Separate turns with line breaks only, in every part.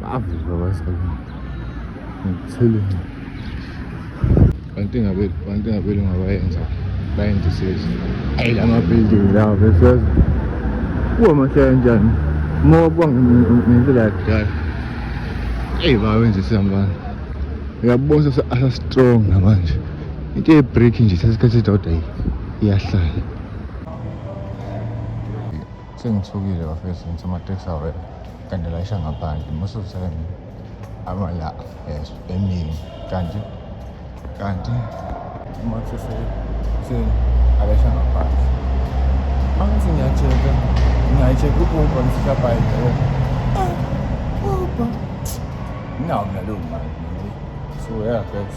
Bavuka basakuthi. Ngithele. Kanti ngabe kanti ngabe ngabayenza bayenza isizi. Ayi lama building lawa bese. Kuwa mahlaya njani? Moba kwangempela yakudala. Hey bawenza isambana. Uyabona sasa strong manje. Into ye break nje sesikhathi sidodwa iyahlala. Sengithukile bafethu ngithi amateksi awena kanti layisha ngaphandle most of the time amala yes emini kanti kanti uma kusese seni alayisha ngaphandle angithi ngiyacheka ngiyaycheka u-uber ngifika bhayi leyo uber nginawo nalowo mali so yeah guys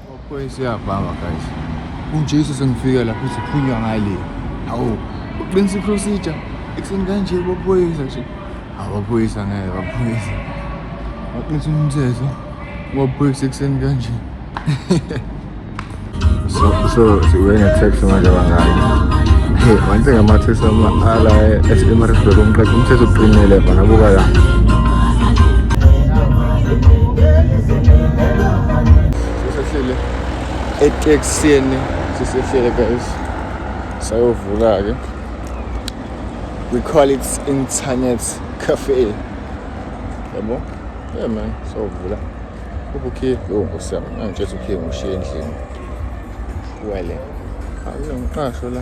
Siyabhanga guys. UJesu sengifike lapho siphunywa ngale. Hawu, uqinisa iprocedure. Ekuseni kanje baphoyisa nje. Abaphoyisa ngeke baphoyisa. Baqinisa umthetho. Baphoyisa ekuseni kanje. So so siwe ngetext manje bangaki? Hey, manje ngamathesa ala eSimarisburg umqeqe umthetho uqinile bana buka la. sisehlele eteksini sisehlele guys sayovula-ke we call it internet cafe yabo yeah man sayovula ubukhiye yo nkosi yami angitshela ukhiye ngushiye endlini wele akunangiqasho la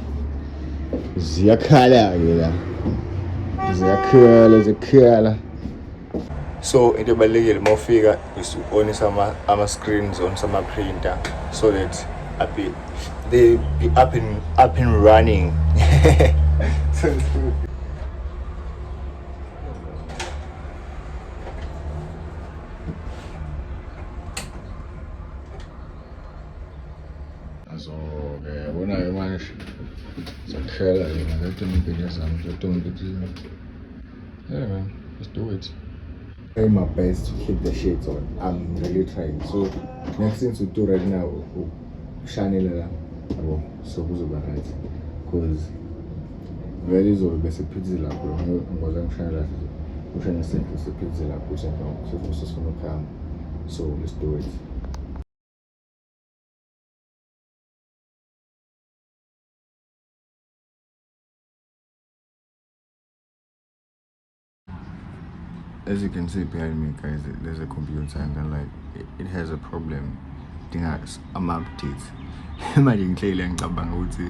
ziyakhala-ke la ziyakhala ziyakhala so into ebalulekile uma ufika is uonisa ama-screens onisa ama-printer so that abe they be up and, up and running Azoke yabona ke manje sakuhlela yena le tombini zami le tombini yeah man let's do it try my best to keep the shades on i'm really trying so next thing to do right now ukushanela la yabo so kuzoba right because vele izolo bese phithize lapho ngoze ngishanela ushane senhle siphithize lapho usemva sifuna ukuhamba so let's do it as you can see behind me guys there's a computer and then like it, it has a problem idinga ama-updates manje ngihleyile ngicabanga ukuthi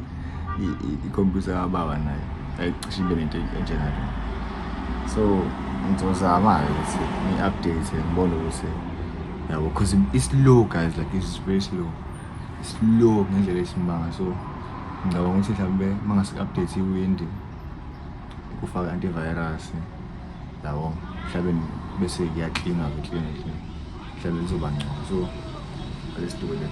ikhompyutha kababa nayo ayicishe ibe nento enjengayo so ngizozama-ke ukuthi ngi-update ngibone ukuthi yabo because i-slow guys like it's very slow slow ngendlela esimanga so ngicabanga ukuthi mhlawumbe uma ngase-update iwindi kufaka antivirus yabo mhlawumbe bese kuyaklina ke klina klina mhlawumbe lizoba ngcono so let's do it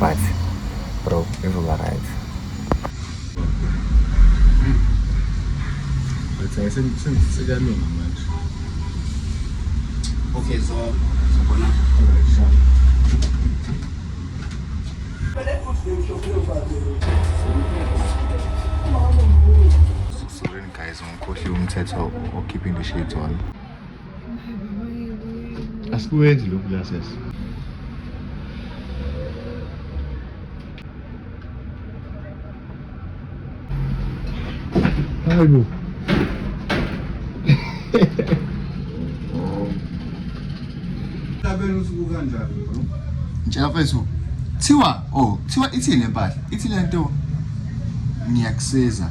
but bro izoba right sekalunga manje
okay
so sabona Sorry guys, ngikhohliwe umthetho okhipha indishade on Asikwenzi lokhu la sesi. Hayi bo.
Tabela usuku kanjani bro? Njafeso.
Thiwa, oh, thiwa ithini lempahla? Ithi lento ngiyakusiza.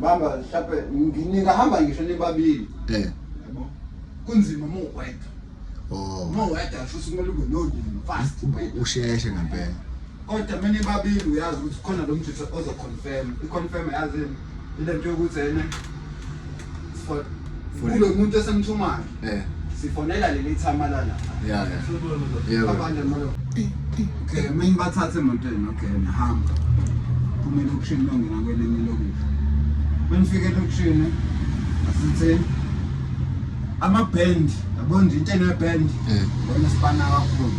Bamba hlape nginika hamba ngisho nibabili. Eh. Kunzima mo wedwa. Oh. Mo wedwa futhi kumele ube no ndini fast. Usheshe ngempela.
Kodwa mina
ibabili uyazi ukuthi khona lo mjutha ozo confirm. I confirm yazi ile nto yokuthi ene for kube umuntu esemthumayo eh sifonela leli thama la la yeah
yeah abanye
molo okay mina bathathe emotweni okay nihamba kumbe lokushini longena kwelinye lokuthi benifike lokushini asithini amabhendi yabona into enebhendi eh. bona sibana kakhulu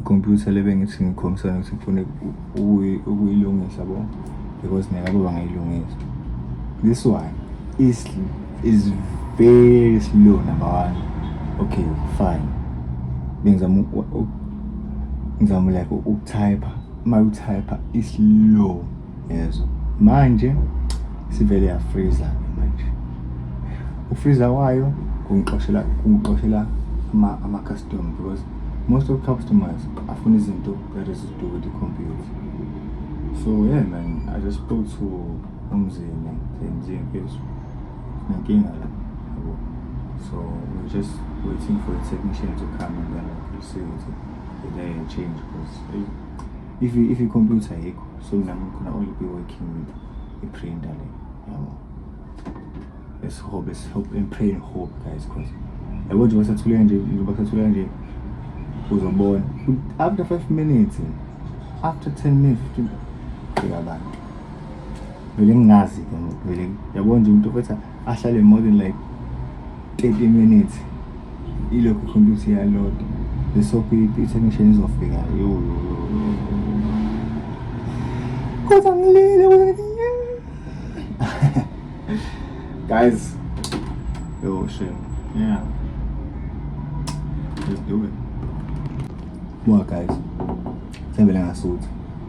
ikhompyutha le bengithi ngikhombisana ukuthi ngifune ukuyilungisa bo because neyabo bangayilungisa this one is, is very slow number one okay fine bengizama ngizama like ukutypha uma utypha islow yezwa manje sivele yafriza ke manje ufriza wayo kungixoshela kungixoshela ama ama custom because most of customers afuna izinto that is to do with the computer so yeah man i just spoke to umzini nje mfethu nenkinga la so we're just waiting for the technician to come and then we'll see if they change because if if i-computer yikho so mina ngikhona only be working with i-printer le yabo let's hope let's hope and pray and hope guys because yabo nje basathuleka nje basathuleka nje uzobona after 5 minutes after 10 minutes 15 fika abantu vele ngingazi ke vele yabo nje umuntu ofetha ahlale more than like 30 minutes ilokhu computer iyaload lesokhu i-technician izofika yo kodwa ngilile guys yo shame yeah let's do it what guys Thembele ngasutha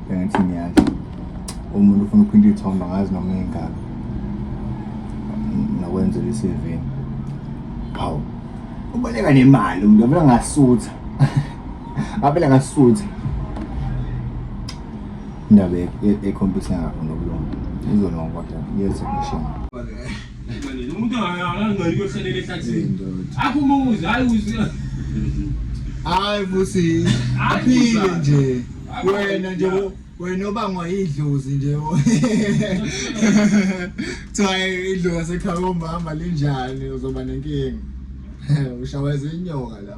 bengithi ngiyadla umuntu ufuna ukuphinda iy'thombe angazi noma ingaka nokwenzela i-CV hawu uboleka nemali umuntu avele ngasutha avele ngasutha indaba ekhompyutha yakho nokulunga izolonga kodwa yezekushona
umuntu angangcoli
kuyohlalela ehlathini akho umuzi hayi uzi hayi futhi aphile nje wena nje wena obangwa yidlozi nje kuthiwa idlozi ekhaya komama linjani uzoba nenkinga ushaweza inyoka la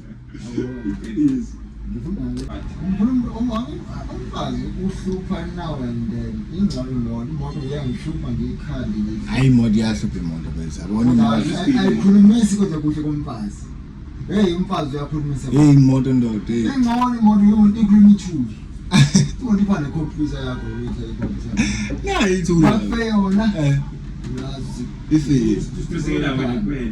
Iqiniso.
Umfazi uhlupha now and then. Ingcono lona imoto iyangihlupha ngiyikhali. Hayi imoto iyahlupha
imoto bese. Abona imali. Ayikhulumisi
kodwa kuhle komfazi. Hey umfazi uyakhulumisa. Hey imoto ndoda.
Ingcono imoto yomuntu
ikhuluma ithuli. Umuntu ibane computer yakho ukuthi ayikhompyutha. Nayi ithuli. Bafe
yona. Eh.
Uyazi.
Ife. Isisekela
wena kuphela.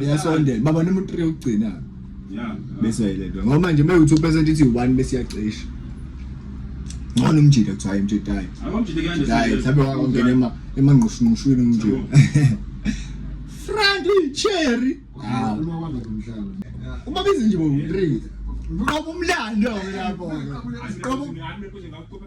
iyasondela baba noma uthree ukugcina
bese yayilendwa ngoba
manje uma uthi upesenti ithi one bese iyacisha ngcono umjida kuthiwa hayi mjida hayi hayi
mhlawumbe wangena
ema emangqushinqushwini umjida franti cherry uma bizinje bo three ngoba umlando lapho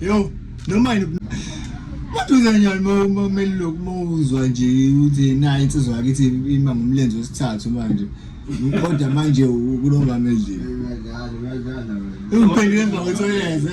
Yo, noma yini maduze nyani mameli lokhu mawuzwa nje ukuthi nayi insizwa yakithi ima ngomlenze wesithathu manje kodwa manje kulongamedlini ungiphendule emva kwethoyeze